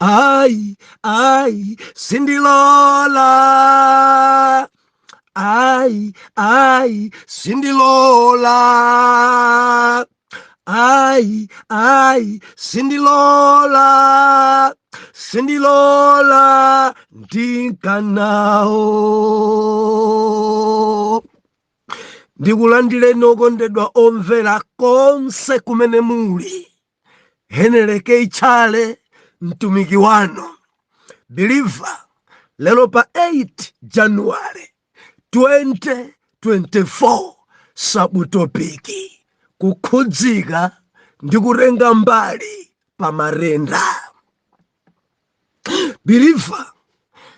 Ai, ai, Sindilola. Ai, ai, Sindilola. Ai, ai, Sindilola. Sindilola, ndikana. Ndikulandireni okondedwa omvera konse kumene muli. Henry K. Chale mtumiki wanu believer lero pa 8 January 2024 sabutopiki kukhudzika ndi kutenga mbali pa matenda believer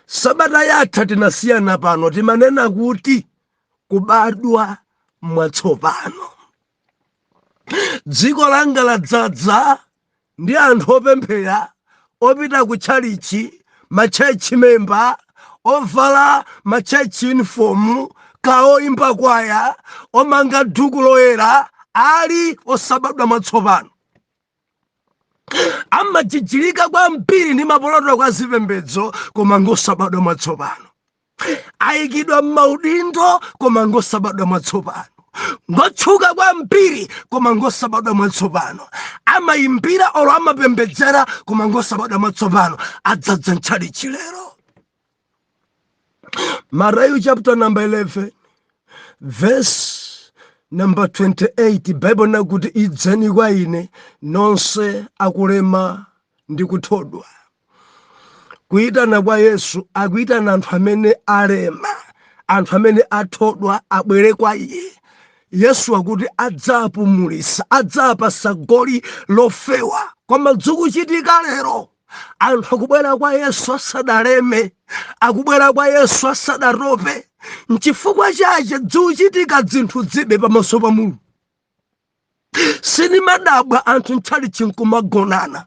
sabata yatha tinasiyana pano timanena kuti kubadwa mwatsopano dziko langa ladzadza ndi anthu opemphera opita ku tchalichi matchechi memba ovala matchechi uniform kaya oyimba kwaya omanga duku loyera ali osabadwa mwatsopano amajijirika kwambiri ndi maprotocol a zipembedzo koma ngosabadwa mwatsopano ayikidwa m'maudindo koma ngosabadwa mwatsopano ngotchuka kwambiri koma ngosabadwa mwatsopano amayimbira olo amapembedzera koma ngosabadwa mwatsopano adzadza ntchalichi lero Matthew chapter number 11 verse number 28 bible nakuti idzani kwa ine nonse akulema ndi kuthodwa Kuitana kwa Yesu akuitana anthu amene alema, anthu amene athodwa abwere kwa iye. Yesu akuti adzapumulisa, adzapasa goli lofewa. Koma dzikuchitika lero anthu akubwera kwa Yesu asanaleme, akubwera kwa Yesu asanatope. Nchifukwa chache dzikuchitika dzinthu dzibe pamaso pa Mulungu. Sinimadabwa anthu ntchalitchi nkumagonana.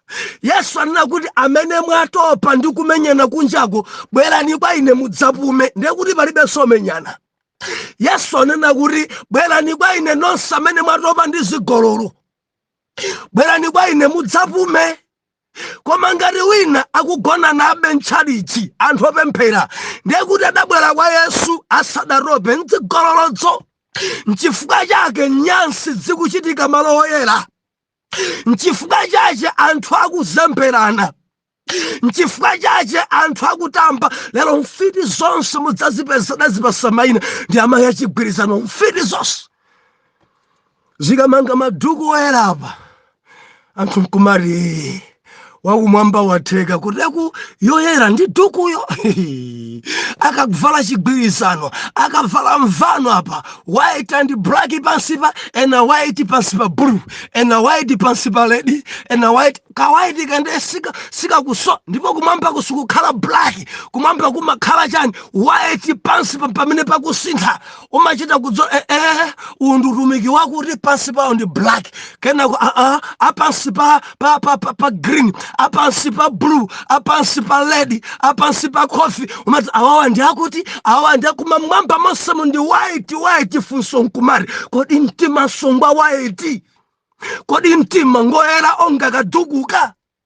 yesu anena kuti amene mwatopa ndi kumenyana kunjako bwerani kwa ine mudzapume ndiye kuti palibenso kumenyana yesu anena kuti bwerani kwa ine nonse amene mwatopa ndi zigololo bwerani kwa ine mudzapume koma ngati wina akugonanabe ntchalichi anthu opemphera ndiye kuti adabwera kwa yesu asadatope ndzigololodzo nchifukwa chake nyansi zikuchitika malo oyera nchifukwa chache anthu akuzemberana nchifukwa chache anthu akutamba lero mfiti zonse mudzazipeza dazipasa maina ndi amayi achigwirizano mfiti zonse zikamanga maduku oyerapa anthu nkumati wakumwamba watheka kuteku yoyera ndi dukuyo akavala chigwirizano akavala mvano apa white and black pansipa ena white pansipa blue ena white pansipa red ena white ka white kande sikakuso ndipo kumwamba kusikukhala black kumwamba kumakhala chani white pansipa pamene pakusintha umachita kudziwa eh, eh, uwu ndi utumiki wakuti pansi pawo ndi black kenako aa ah, ah, apansi pa, pa, pa, pa, pa green apansi pa blue apansi pa red apansi pa coffee umati awawa ndi akuti awawa ndi akuma mwamba monsemu ndi white white funso nkumati kodi mtimanso ngwa white kodi mtima ngoyera onga kadukuka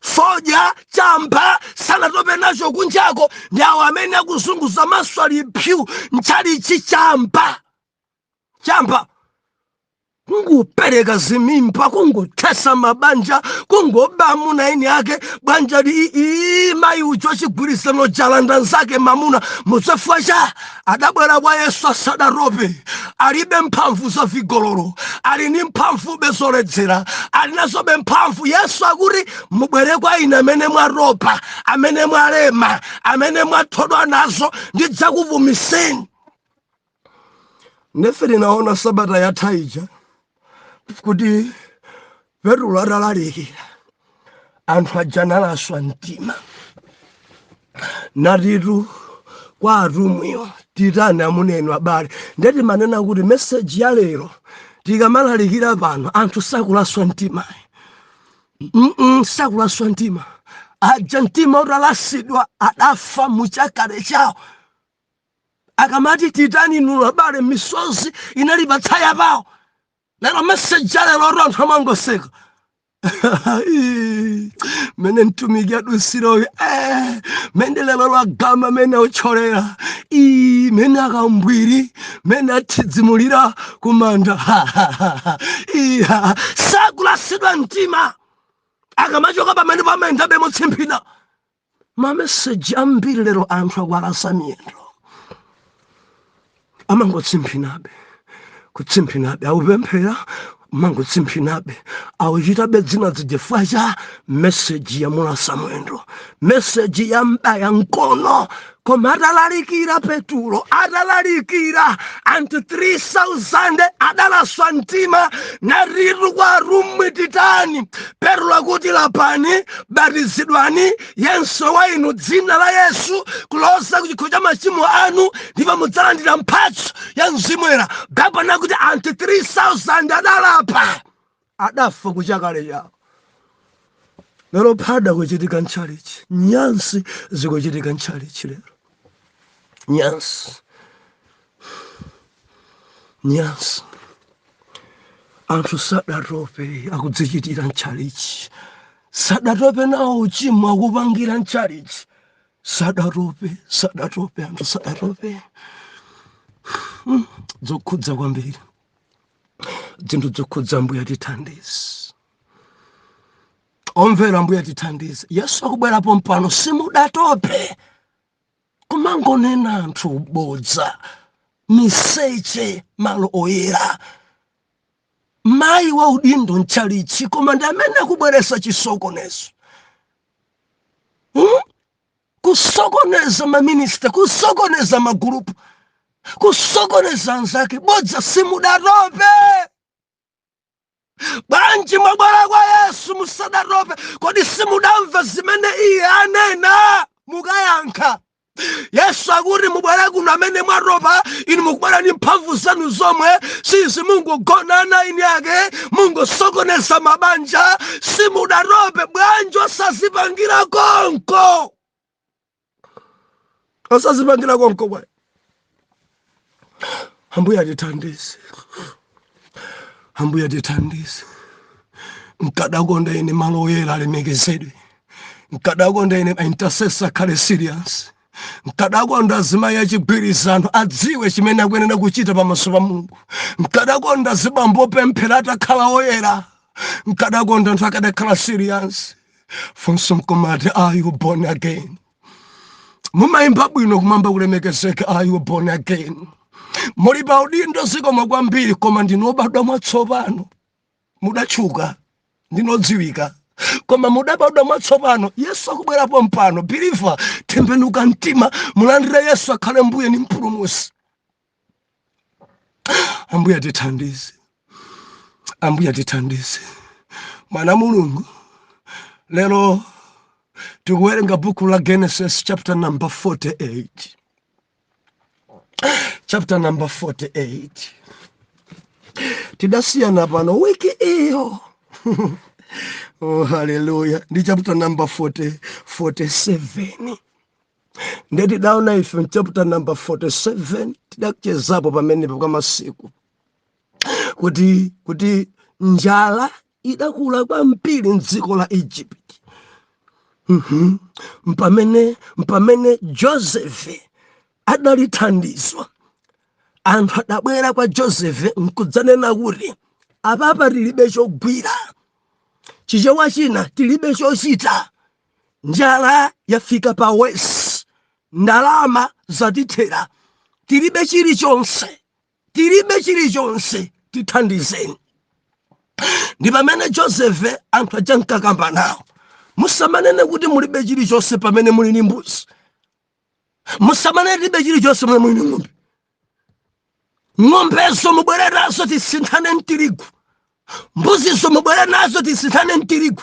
fodya chamba sanatope nacho kunjako ndi awo amene akuzunguza maso ali pyu mtchalitchi chamba chamba kungopereka zimimba kungothetsa mabanja kungoba amuna a eni ake banja li ii mayi wa chigwirizano walanda mnzake mamuna chifukwa cha adabwera kwa yesu asadatope alibe mphamvu za vigololo ali ni mphamvube zoledzera ali nazobe mphamvu yesu akuti mubwere kwa ine amene mwatopa amene mwalema amene mwathodwa nazo ndidzakupumitseni nde ife tinaona sabata yatha ija kuti petulo atalalikira anthu aja analaswa mtima natitu kwa atumwiwo titani amuna inu abale ndiye timanena kuti meseji ya lero tikamalalikira pano anthu sakulaswa mtima Mm-mm, sakulaswa mtima aja mtima utalasidwa adafa muchakale chawo akamati titani inu abale misozi inali patsaya pawo lero meseji ya lero oti anthu amangoseka Ii, mene mtumiki adusiroyo eh, mene lero lagama mene autcholera Ii, mene akambwiri mene athidzimulira kumanda Ha, ha, ha, ha. Ii, ha, ha. sakulasidwa mtima akamachoka pamenepa amayendabe motsimphina mameseji ambiri lero anthu akuwalasa miyendo amangotsimphinabe kutsimphinabe akupemphera amangotsimphinabe akuchitabe zinazi chifukwa cha meseji yamulasa mwendo meseji yam'baya mkono koma atalalikira petulo atalalikira anthu 3000 adalaswa mtima natitu kwa atumwi titani petulo akuti lapani batizidwani yense wa inu m'dzina la yesu kuloza ku chikhululukiro cha machimo anu ndipo mudzalandira mphatso ya mzimu woyera baibulo linena kuti anthu 3000 adalapa adafa kuchakale chawo lero phada kuchitika mchalichi nyansi zikuchitika mchalichi lero nyansi nyansi anthu sadatope akudzichitira mchalichi sadatope nawo uchimo akupangira mchalichi sadatope sadatope anthu sadatope zokhudza kwambiri zinthu zokhudza mbuya tithandize omvera mbuya tithandize yesu akubwera pompano simudatope kumangonena anthu bodza miseche malo oyera mayi wa udindo mtchalitchi koma ndi amene akubweretsa chisokonezo hmm? kusokoneza maminisitiri kusokoneza magulupu kusokoneza anzake bodza simudatope bwanji mwabwera kwa yesu musadatope kodi simudamva zimene iye anena mukayankha yesu akuti mubwere kuno amene mwatopa inu mukubwera ndi mphamvu zanu zomwe si zimungogonana ini yake mungosokoneza mabanja simudatope bwanji osazipangira konko osazipangira konko bwanji ambuye atithandize ambuye atithandize nkadakonda ine malo oyera alemekezedwe nkadakonda ine intercessor akhale serious nkadakonda azimayi achigwirizano adziwe chimene akuyenera kuchita pamaso pa mulungu nkadakonda azibambo opemphera atakhala oyera nkadakonda anthu akadakhala serious funso nkumati are you born again mumayimba bwino kumwamba kulemekezeke are you born again muli pa udindo zikomo kwambiri koma ndinu obadwa mwatsopano mudatchuka ndinu odziwika koma mudabadwa mwatsopano yesu akubwera pompano believer tembenuka mtima mulandire yesu akhale mbuye ni mpulumutsi ambuye atithandize ambuye atithandize mwana wa mulungu lero tikuwerenga buku la genesis chapter number 48 chapter number 48 tidasiyana pano wiki iyo oh, haleluya ndi chapter number 40, 47 nde tidaona ife mchapter number 47 tidachezapo pamenepo kwa masiku kuti kuti njala idakula kwambiri mdziko la egypt Mhm. mpamene mpamene josefe adali thandizo anthu adabwera kwa josefe nkudzanena kuti apapa tilibe chogwira chichewa china tilibe chochita njala yafika pa wesi ndalama zatithera tilibe chilichonse tilibe chilichonse tithandizeni ndi pamene josefe anthu aja nkakamba nawo musamanene kuti mulibe chilichonse pamene muli ndi mbuzi musamanene tilibe chilichonse pamene muli ndi ng'ombe ng'ombezo mubwere nazo tisinthane mtirigu mbuzizo mubwere nazo tisinthane mtirigu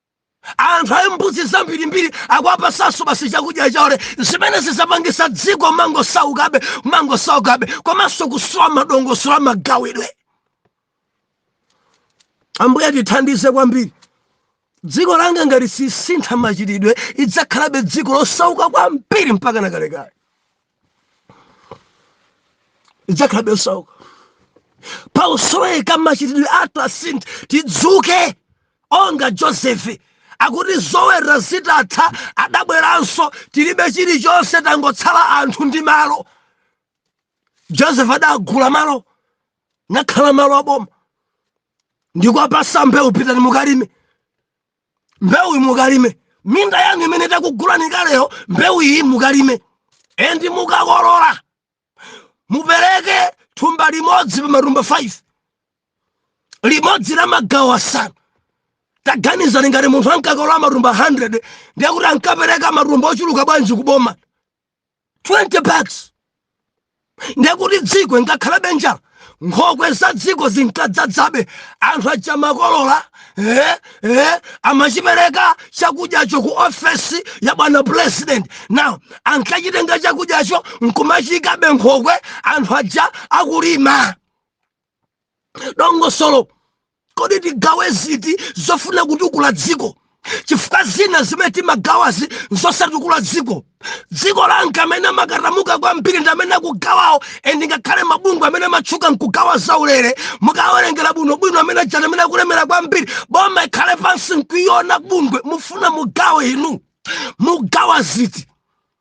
anthu ali mbuzi zambirimbiri akuwapasanso basi chakudya chaulere zimene zidzapangisa dziko mangosaukabe mangosaukabe komanso kusowa madongosolo amagawidwe ambuye tithandize kwambiri dziko langa ngati sisintha machitidwe idzakhalabe dziko losauka kwambiri mpaka nakalekale idzakhalabe losauka pakusoweka machitidwe athu asinthe tidzuke onga josefe akuti zoweta zitatha adabweranso tilibe chilichonse tangotsala anthu ndi malo joseph adagula malo nakhala malo aboma ndikwapasa mbewu pitani mukalime mbewu iyi mukalime minda yanu imene takugulani kaleyo mbewu iyi mukalime endi mukakolola mupereke thumba limodzi pa matumba 5 limodzi la magawo asanu taganizani ngati munthu ankakolola matumba 100 ndiye kuti ankapereka matumba ochuluka bwanji kuboma 20 bags ndekuti dziko ingakhalabe njala nkhokwe za dziko zinkadzadzabe anthu aja amakolola eh, eh, amachipereka chakudyacho ku ofesi ya bwana president now ankachitenga chakudyacho nkumachiikabe mnkhokwe anthu aja akulima dongosolo kodi tigawe ziti zofuna kutukula dziko chifukwa zina zimene timagawazi nzosatukula dziko dziko langa amene amakatamuka kwambiri ndi amene akugawawo and ngakhale mabungwe amene amatchuka nkugawa zaulere mukawerengera bwinobwino amene aja ndi amene akulemera kwambiri boma ikhale pansi nkuiona bungwe mufuna mugawe inu mugawa ziti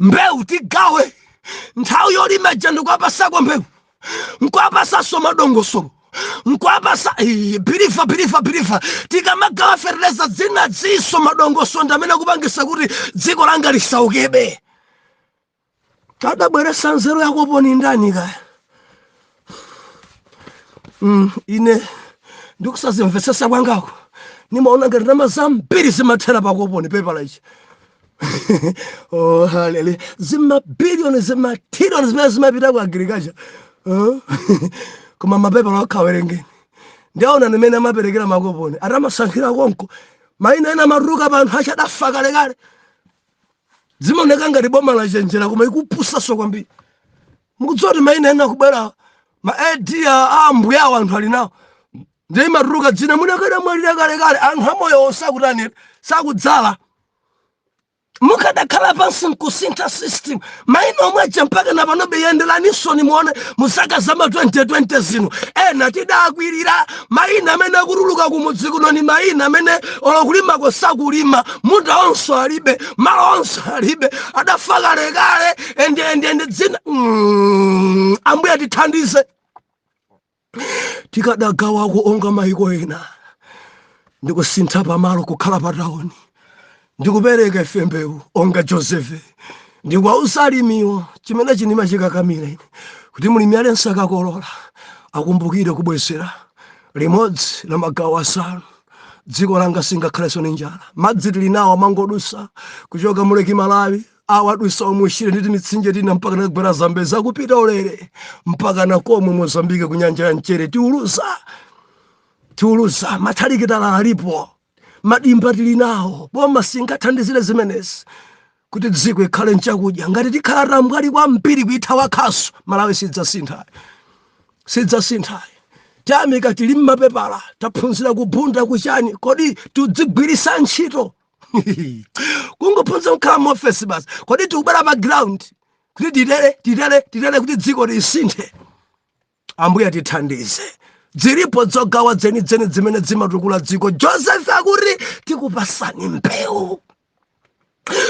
mbewu tigawe nthawi yolima ija ndikuwapasako mbewu nkuwapasaso madongosolo nkuwapasa bilifa bilifa bilifa tikamagawa fertilizer zina ziso madongosolo ndamene akupangisa kuti dziko langa lisaukebe adabweresa nzeru yakopo ni ndani kaya mm, ine ndikusazimvesesa kwangako nimaona ngati ndalama zambiri zimathera pakoponi pepala ichi oh, haleluya zimabiliyoni zimatiriyoni zimene zimapita ku agriculture huh? koma mapepala okha werengeni ndiaona mmene amaperekera makoponi ati amasankhira konko maina ena amatuluka pa anthu oti adafa kalekale zimaoneka ngati boma lachenjera koma ikupusaso kwambiri mukudziwa kuti maina ena akubwerawa ma ID a ambuye awo anthu ali nawo ndiye imatuluka dzina munthu akadamwalira kalekale anthu amoyowo sakutanira sakudzala mukadakhala pansi nkusintha system maina omwe aja mpaka na panobe yenderaninso nimuone muzaka za ma 2020 zino ena tidakwirira maina amene akutuluka kumudzi kuno ni maina amene olo kulimako sakulima munda onso alibe malo onso alibe adafa kalekale ende ende ende dzina mm, ambuye tithandize tikadagawako onga maiko ena ndikusintha pamalo kukhala pa tauni ndikupereka ife mbewu onga josefe ndikuwauza alimiwo chimene chinima chikakamira ine kuti mlimi aliyense akakolola akumbukire kubwezera limodzi la magawo asanu dziko langa singakhalenso ndi njala madzi tili nawo amangodutsa kuchoka mu Lake Malawi awo adutsa omu Shire ndi timitsinje tina mpaka nakagwera zambezi akupita ulere mpaka na komwe mozambike ku nyanja ya mchere tiluza tiluza mathirakitala alipo madimba tili nawo boma singathandizire zimenezi kuti dziko ikhale nchakudya ngati tikhala tambwali kwambiri kuithawa khasu malawi sidzasintha sidzasintha tiyamika tili mmapepala taphunzira ku Bunda kuchani kodi tidzigwiritsa ntchito kungophunzira kukhala mu ofesi basi kodi tikubwera pa ground kuti titere titere titere kuti dziko lisinthe ambuye tithandize dziripo dzogawa dzenidzeni dzimene dzimatukula dziko joseph akuti tikupasani mbewu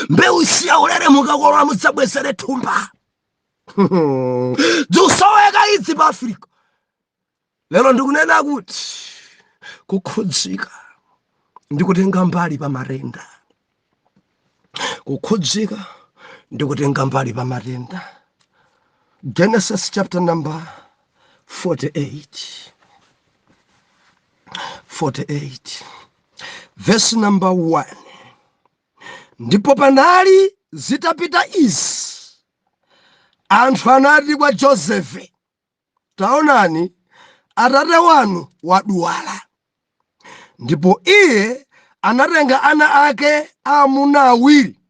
mbewu si yaulere mukakolola mudzabwezere thumba dzikusoweka idzi pa africa lero ndikunena kuti kukhudzika ndi kutenga mbali pa matenda kukhudzika ndi kutenga mbali pa matenda genesis chapter number 48 48 verse number 1 ndipo panali zitapita izi anthu anati kwa josefe Taonani, atate wanu wadwala. Ndipo iye anatenga ana ake aamuna awiri,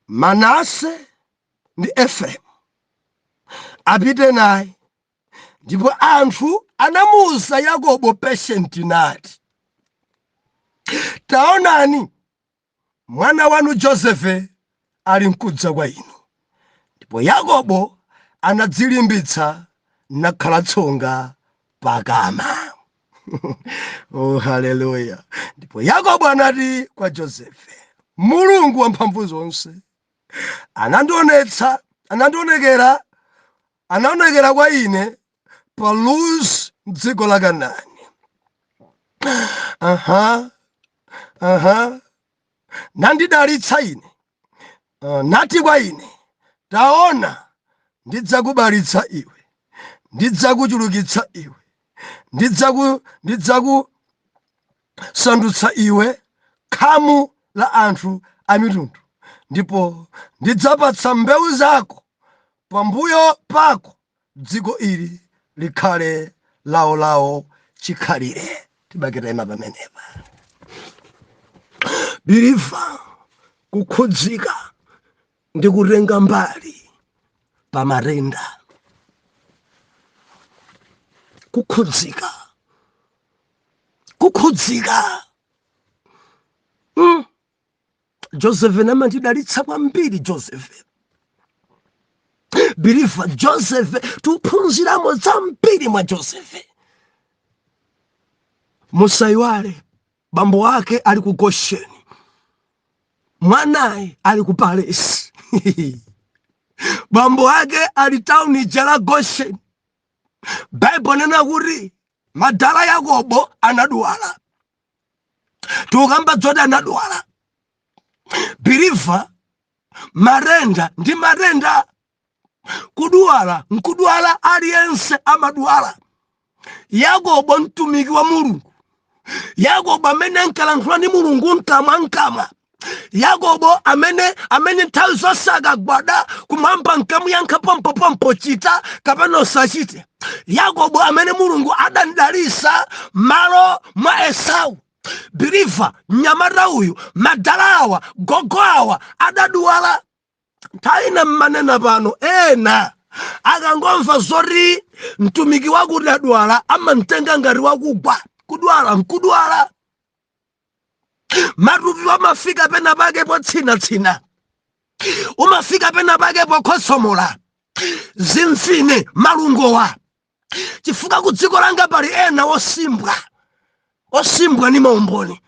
Manase ndi Efereimu, apite naye. Ndipo anthu anamuwuza Yakobo patient nati, Taonani, Mwana wanu Josefe ali nkudza kwa inu. Ndipo Yakobo anadzilimbitsa nakhala tsonga pa kama. oh, haleluya! Ndipo Yakobo anati kwa Josefe, Mulungu wamphamvu zonse anandionetsa anandionekera anaonekera kwa ine pa Luz m'dziko la Kanani. Aha, aha, nandidalitsa ine, Ah, nati kwa ine, taona, ndidzakubalitsa iwe, ndidzakuchulukitsa iwe, ndidzaku ndidzakusandutsa iwe khamu la anthu a mitundu, ndipo ndidzapatsa mbewu zako pambuyo pako dziko ili likhale laolao chikhalire tibakaima pamenepa biliva kukhudzika ndi kutenga mbali pa matenda kukhudzika kukhudzika mm. josefe amandidalitsa kwambiri josefe biliva josefe tiphunziramo zambiri mwa josefe musayiwale bambo wake ali ku gosheni mwanayu ali ku palesi bambo wake ali tauni lija la gosheni baibulo inena kuti madala yakobo anadwala tikukamba zoti anadwala biliva matenda ndi matenda kudwala nkudwala aliyense amadwala yakobo mtumiki wa mulungu yakobo amene ankalankhula ndi mulungu mkamwa mkamwa yakobo amene amene nthawi zonse akagwada kumwamba kunkamuyankha pompopompo chita kapena usachite yakobo amene mulungu adamdalitsa malo mwa esau biliva mnyamata uyu madala awa gogo awa adaduwala nthawi ina mmanenamu pano ena akangomva zoti mtumiki wakuti adwala amamtenga ngati wakugwa kudwala nkudwala matupi umafika pena pake potsinatsina umafika pena pake pokhotsomola zimfine malungowa chifukwa ku dziko langa pali ena osimbwa osimbwa ni maumboni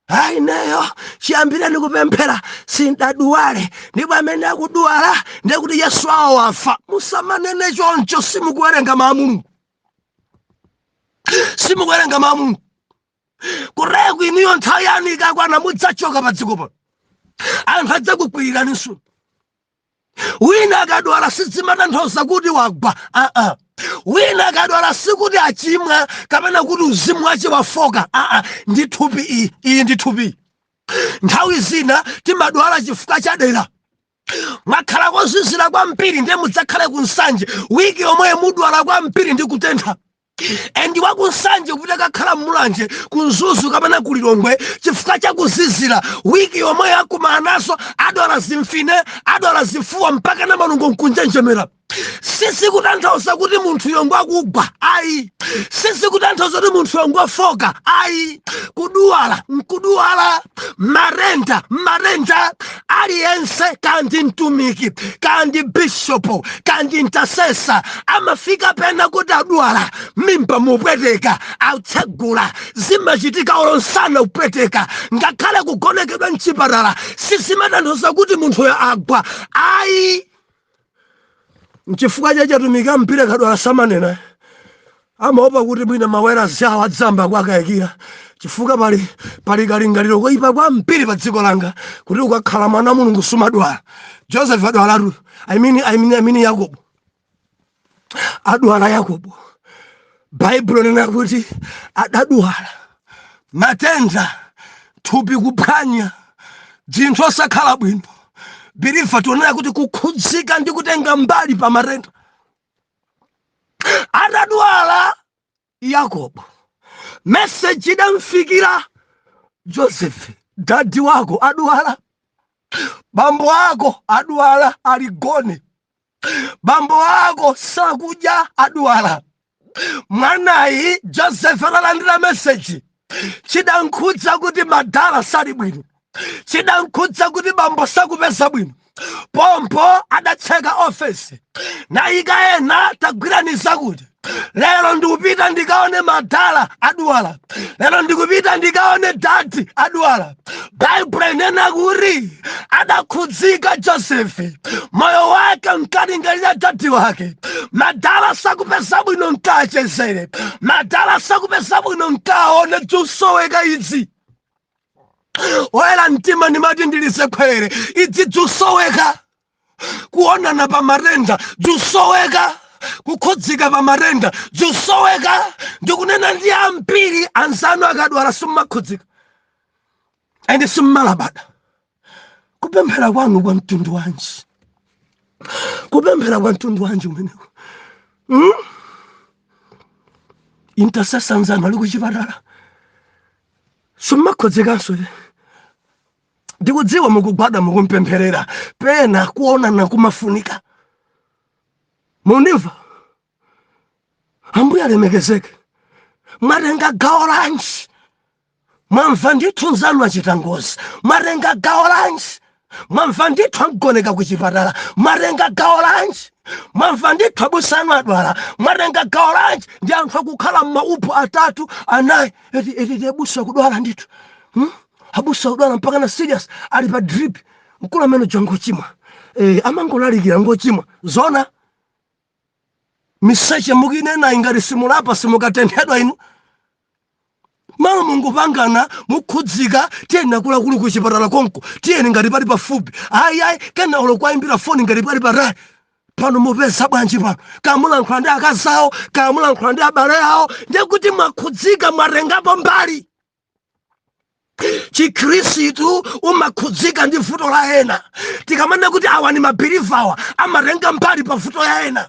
ayi ineyo chiyambireni kupemphera sindaduwale ndipo amene akuduwala ndiye kuti yesu awo wafa musamanene choncho simukuwerenga mawu a mulungu simukuwerenga mawu a mulungu kuteko inuyo nthawi yanu ikakwana mudzachoka pa dziko pano anthu adzakukwiriraninso wina akadwala sizimatanthauza kuti wagwa aa wina akadwala sikuti achimwa kapena kuti uzimu wache wafoka aa ndi thupi iyi iyi ndi thupi iyi. nthawi zina timadwala chifukwa cha dera mwakhala kozizira kwambiri ndiye mudzakhale ku Nsanje wiki yomweyo mudwala kwambiri ndi kutentha endi wa ku Nsanje kuti akakhale ku Mulanje ku Mzuzu kapena ku Lilongwe chifukwa cha kuzizira wiki yomweyo akumana nazo adwala zimfine adwala zifuwa mpaka na malungo nkunjenjemera sizikutanthauza kuti munthu ngoo akugwa ayi sizikutanthauza kuti munthu ngoo afoka ayi kudwala nkudwala matenda mmatenda aliyense kaya ndi mtumiki kaya ndi bishopu kaya ndi intercessor amafika pena kuti adwala mimba mukupweteka atsegula zimachitika olo msana kupweteka ngakhale kugonekedwa mchipatala sizimatanthauza kuti munthuyo agwa ayi Nchifukwa chache atumiki ambiri akadwala samanena, amaopa kuti mwina mamembala awo adzayamba kuwakayikira chifukwa pali pali kalingaliro koyipa kwambiri pa dziko langa kuti ukakhala mwana wa Mulungu sumadwala. Joseph adwalatu, I mean, I mean, I mean Yakobo. adwala yakobo baibulo linena kuti adadwala matenda thupi kuphwanya dzinthu osakhala bwino believer tionera kuti kukhudzika ndi kutenga mbali pa matenda atadwala Yakobo. Meseji idamfikira Joseph, dadi wako adwala, bambo ako adwala, ali gone, bambo ako sakudya, adwala. Mwanayi Joseph atalandira meseji chidamkhudza kuti madala sali bwino chidamkhudza kuti bambo sakupeza bwino pompo adatseka ofesi nayika ena tagwirani izi kuti lero ndikupita ndikaone madala adwala lero ndikupita ndikaone dadi adwala baibulo linena kuti adakhudzika josefe moyo wake mkalingalira dadi wake madala sakupeza bwino nkawachezere madala sakupeza bwino nkawaone dzikusoweka idzi oyera mtima ndimati ndilisekhwerere idzi dzikusoweka kuonana pa matenda zisoweka kukhudzika pa matenda zisoweka ndikunena ndi ambiri anzanu akadwala simmakhudzika ende simmalabada kupemphera kwanu kwa mtundu wanji kupemphera kwa mtundu wanji umeneko hmm? intercessor anzanu ali kuchipatala simmakhudzikanso ndikudziwa mukugwada mukumpempherera pena kuonana kumafunika mundimva ambuye alemekezeke mwatenga gawo lanji mwamva ndithu nzanu achita ngozi mwatenga gawo lanji mwamva ndithu amugoneka ku chipatala mwatenga gawo lanji mwamva ndithu abusanu adwala mwatenga gawo lanji ndi anthu akukhala m'maupo atatu anayi eti eti abusa kudwala ndithu hmm? abusa kudwala mpaka na serious ali pa drip mkulu amene uja ngochimwa eh, amangolalikira ngochimwa zona miseche mukinena ingati simulapa simukatengedwa inu malo mungopangana mukhudzika tiyeni nakulakulu ku chipatala konko tiyeni ngati pali pafupi ayi ayi kena olo kuwayimbira foni ngati pali patali pano mupeza bwanji pano kamulankhula ndi akazi awo kamulankhula ndi abale awo ndiye kuti mwakhudzika mwatengapo mbali chikhristu umakhudzika ndi vuto la ena tikamanena kuti awa ndi mabhiliva awa amatenga mbali pa vuto ya ena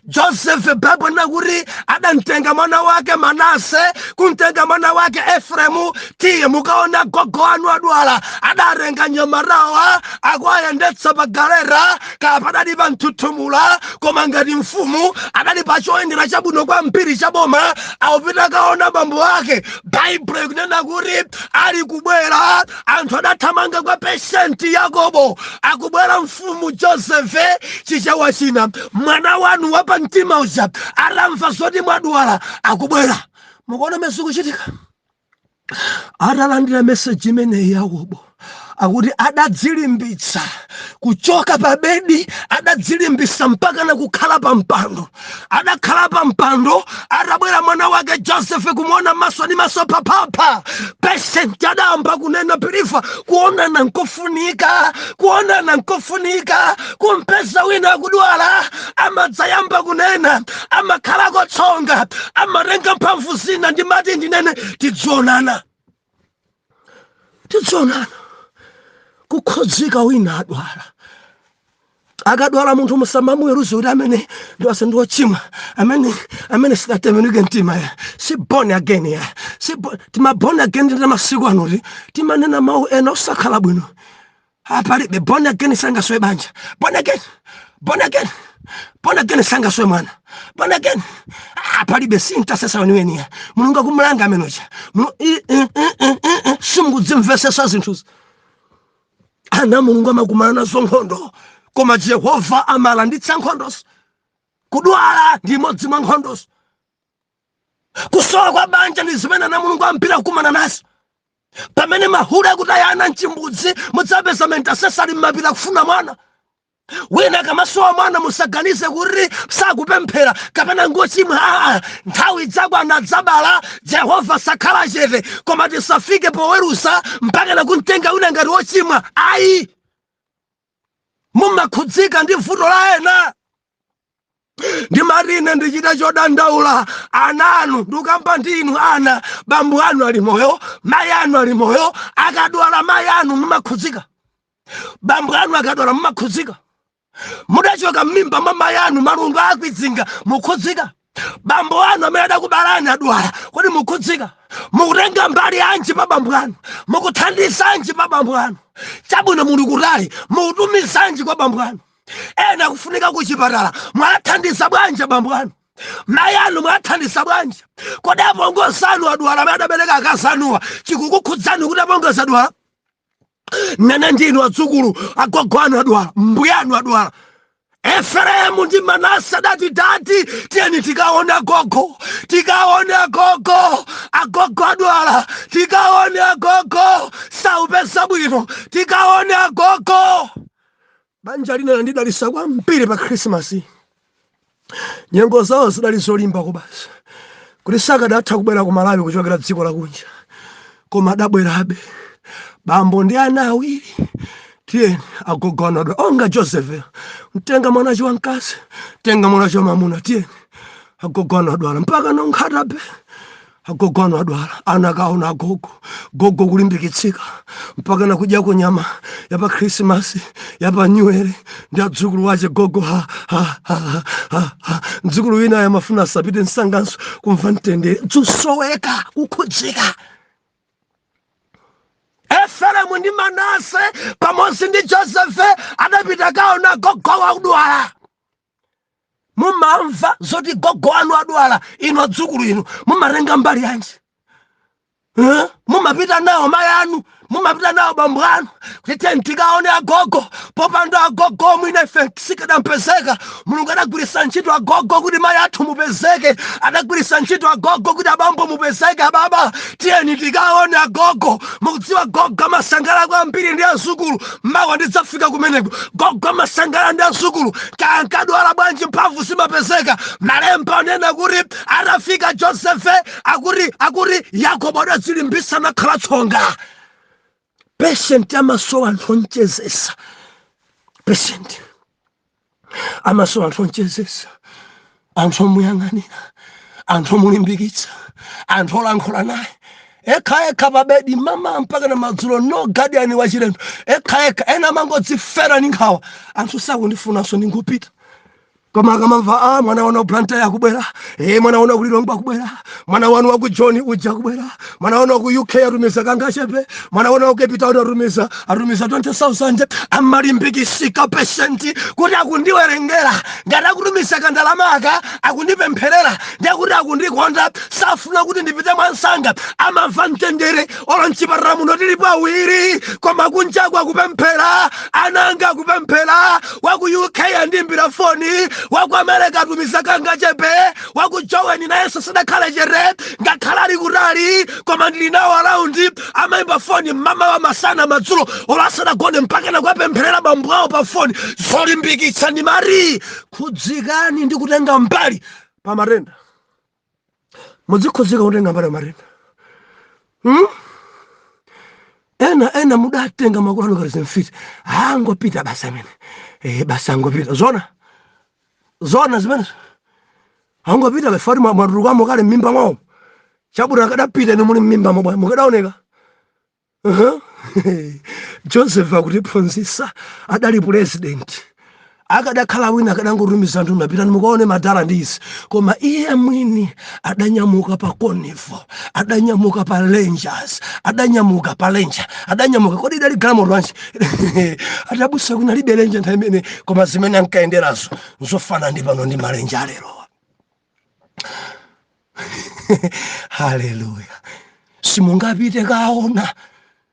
josefe baibo ikunena kuti adamtenga mwana wake manase kumtenga mwana wake efremu tiye mukaona gogo wanu adwala adatenga nyamarawa akuayendetsa pa galeta kaya padali pa mthuthumula koma ngati mfumu adali pa choyendera chabwino kwambiri cha boma akupita kaona bambo ake baibulo ikunena kuti ali kubwera anthu adathamanga kwa peshenti yakobo akubwera mfumu josefe chichewa china mwana wanu wa pa mtima uja atamva zoti mwadwala akubwera mukuona mene zikuchitika atalandira meseji imeneyi yakobo akuti adadzilimbitsa kuchoka pa bedi adadzilimbitsa mpaka na kukhala pa mpando adakhala pa mpando atabwera mwana wake joseph kumuona maso ni maso phaphapha patient adayamba kunena pilifa kuonana nkofunika kuonana nkofunika kumpeza wina akudwala amadzayamba kunena amakhala kotsonga amatenga mphamvu zina ndimati ndinene tidzionana tidzionana kukhudzika wina adwala akadwala munthu musamamuweruze kuti amene ndiwase ndi wochimwa amene amene sadatembenuke mtima ya si born again ya si bo- tima born again a masiku anoti timanena mawu ena osakhala bwino apalibe born again sangasowe banja born again born again born again sangasowe mwana born again apalibe si mtasesa weniweniya mulungu akumulanga amenocha simukudzimvesesa zinthuzi ana mulungu amakumana nazo nkhondo koma jehova amalanditsa nkhondozo kudwala ndi imodzi mwa nkhondozo kusowa kwa banja ndi zimene ana mulungu ambiri akumana nazo pamene mahule akutaya ana mchimbudzi mudzawapeza ma intasesa ali m'mapiri kufuna mwana wina akamasowa mwana musaganize kuti sakupemphera kapena ngochimwa aa nthawi idzakwana adzabala jehova sakhala chete koma tisafike poweruza mpaka nakumtenga wina ngati wochimwa ayi mumakhudzika ndi vuto la ena ndimati ine ndichita chodandaula ana anu ndikukamba ndi inu ana bambo anu ali moyo mayi anu ali moyo akadwala mayi anu mumakhudzika bambo anu akadwala mumakhudzika mudachoka m'mimba mwa mayi anu malungo akawazinga mukhudzika bambo anu amene adakubalani adwala kodi mukhudzika mukutenga mbali yanji pa bambo anu mukuthandizanji pa bambo anu chabwino muli kutali mukutumizanji kwa bambo anu ena kufunika kuchipatala mwathandiza bwanji bambo anu mayi anu mwathandiza bwanji kodi apongozi anu adwala amene adabereka akazi anuwa chikukukhudzani kuti apongozi adwala nanga inu adzukulu agogo anu adwala mbuyanu adwala efereimu ndi manase adati dadi tiyeni tikaone agogo tikaone agogo agogo adwala tikaone agogo saupeza bwino tikaone agogo Banja lina linandidalitsa kwambiri pa Khrisimasi. Nyengo zawo zidali zolimba kubasa kuti sakadatha kubwera ku Malawi kuchokera dziko lakunja, koma adabwerabe. Bambo ndi ana awiri, tiyeni agogo anu adwala onga Joseph, mtenga mwana wache wamkazi, mtenga mwana wache wamwamuna, tiyeni agogo anu adwala mpaka nonkhatabe agogo anu adwala ana akaona agogo gogo kulimbikitsika mpaka nakudyako nyama yapa khrisimasi yapa nyuwere ndi adzukulu ake gogo ha, ha, ha, ha, ha, ha. mdzukulu winayo amafuna asapite msanganso kumva mtendere tikusoweka kukhudzika efereimu ndi manase pamodzi ndi josefe adapita kukaona gogo wakudwala mumamva zoti gogo anu adwala inu adzukulu inu mumatenga mbali yanji Eh? mumapita nawo mayi anu mumapita nawo bambo anu kuti tiyeni tikaone agogo popanda agogo mwina ife sikadampezeka mulungu adagwiritsa ntchito agogo kuti mayi athu mupezeke adagwiritsa ntchito agogo kuti abambo mupezeke ababa tiyeni tikaone agogo mukudziwa gogo amasangalala kwambiri ndi adzukulu mawa ndidzafika kumeneko gogo amasangala ndi azukulu kaya ankadwala bwanji mphamvu zimapezeka malemba anena kuti atafika josefe akuti akuti yakobo adazilimbisa nakhala tsonga patient amasowa anthu onchezesa patient amasowa anthu omchezesa anthu omuyang'anira anthu omulimbikitsa anthu olankhula naye ekha ekha pabedi mama mpaka na madzulo no guardian wachilendo ekha ekha ena amangodzifera ni nkhawa anthu sakundifunanso ndingupita koma akamamva a mwana wanu wa ku blantyre akubwera e mwana wanu wa kulilongwe akubwera mwana wanu wa ku joni uja akubwera mwana wanu wa ku uk atumiza kangachepe mwana wanu wa ku cape town atumiza atumiza 20000 amalimbikisika patient kuti akundiwerengera ngati akutumiza kandalama aka akundipempherera ndi akuti akundikonda safuna kuti ndipite mwansanga amamva mtendere olo mchipatala muno tilipo awiri koma kunjaku akupemphera ananga akupemphera wa ku uk andimbira foni wa ku america atumiza kangachepe wakujoweni nayenso sadakhale chete ngakhale ali kutali koma ndili nawo around amaimba foni mmamawa masana madzulo olo asadagone mpakana kuwapempherera bambo awo pa foni zolimbikitsa ndimati khudzikani ndi kutenga mbali pa matenda mudzikhudzika kutenga mbali pa matenda hmm? ena ena mudatenga makolo anu okalamba mfiti angopita basi amene eh, basi angopita zona zona zimenezo angopita after mwatulukamo kale mmimba mwawo chabwino akadapita ni muli mmimba mwawo mukadaoneka joseph akutiphunzisa adali pulezidenti akadakhala wina akadangotumiza anthu apitani mukaone madala ndi izi koma iye mwini adanyamuka pa convoy adanyamuka pa rangers adanyamuka pa ranger adanyamuka kodi idali galamoto anji abusa kunalibe lenje nthawi imene koma zimene ankayenderazo nzofana ndi pano ndi malenje a lerowa haleluya simungapite kaona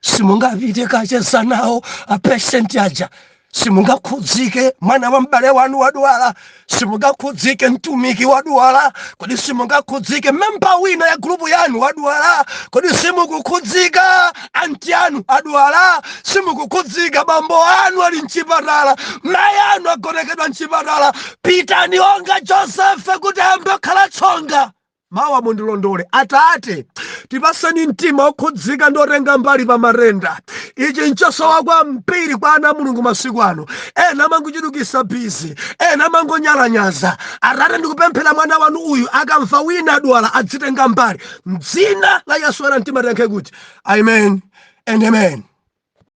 simungapite kacheza nawo apeshenti aja simungakhudzike mwana wa m'bale wanu wadwala simungakhudzike mtumiki wadwala kodi simungakhudzike memba wina ya gulupu yanu wadwala kodi simukukhudzika anti anu adwala simukukhudzika bambo anu ali mchipatala mayi anu agonekedwa mchipatala pitani monga josefe kuti ayambe kukhala tsonga Mawa mundilondole Atate, tipaseni mtima okhudzika ndi otenga mbali pa matenda. Ichi nchosowa kwambiri kwa ana a Mulungu masiku ano. Ena amangochulukisa busy, ena amangonyalanyaza. Atate ndikupemphera mwana wanu uyu akamva wina adwala adzitenga mbali. Mdzina la Yesu woyera mtima tiyankhe kuti Amen and Amen.